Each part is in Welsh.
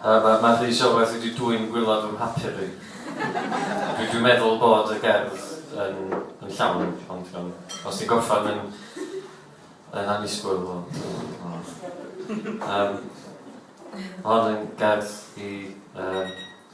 Yy ma' ma' Rhys Iorwerth wedi dwyn gwilod fy mhapur i. Dwi dwi'n meddwl bod y gerdd yn yn llawn ond ond iawn os ti'n gorffan yn yn annisgwyl wel o yym ma' hon yn gerdd i yym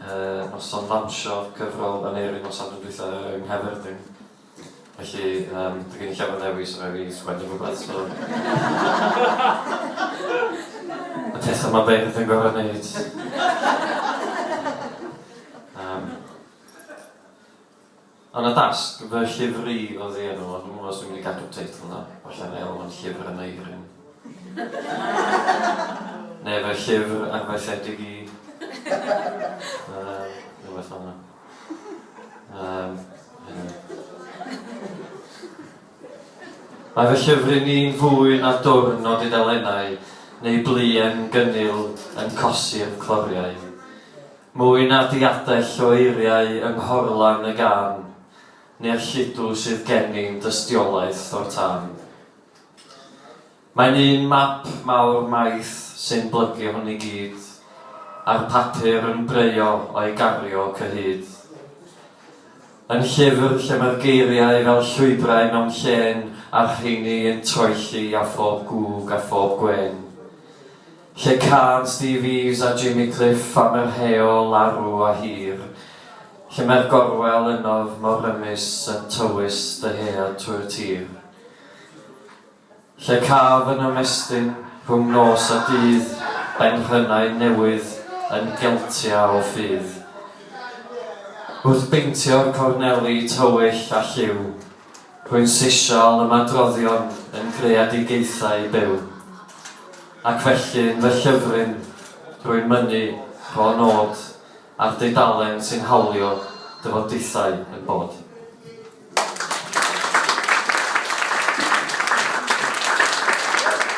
y noson lansio cyfrol Aneurin noson yn dwytha yng Nghaerfyrddin. Felly yym dwi gen i llawer ddewis rhaid fi sgwennu rhywbeth so y petha ma beirdd yn gor'o neud. Yym. Yn y dasg, fy llyfr i oedd ei enw, ond dwi'm yn gwybod os dwi'n mynd i gadw'r teitl 'na, falle na i alw fo'n Llyfr y Meiryn. Neu fy llyfr arfaethedig i. Yym, rhywbeth fel 'na. Yym, anyway. Mae fy llyfr i ni'n fwy na dwrn o dudalennau neu bluen gynnil yn cosi'r cloriau. Mwy na diadell o eiriau yng nghorlan y gân, neu'r lludw sydd gennym dystiolaeth o'r tân. Mae'n un map mawr maith sy'n blygu hwn i gyd, a'r papur yn breuo o'i gario cyhyd. Yn llyfr lle mae'r geiriau fel llwybrau mewn llên a'r rheiny yn troelli a phob gwg a phob gwên. Lle cân Steve Eaves a Jimmy Cliff am yr heol arw a hir, Lle mae'r gorwel ynof mor rymus yn tywys dyhead trwy'r tir. Lle caf yn ymestyn rhwng nos a dydd benrhynnau newydd yn geltia o ffydd. Wrth beintio'r corneli tywyll a lliw Rwy'n ceisio ymadroddion yn greadigaethau byw, ac felly yn fy llyfryn rwy'n mynnu rho nod ar dudalen sy'n hawlio dyfodiaethau yn bod.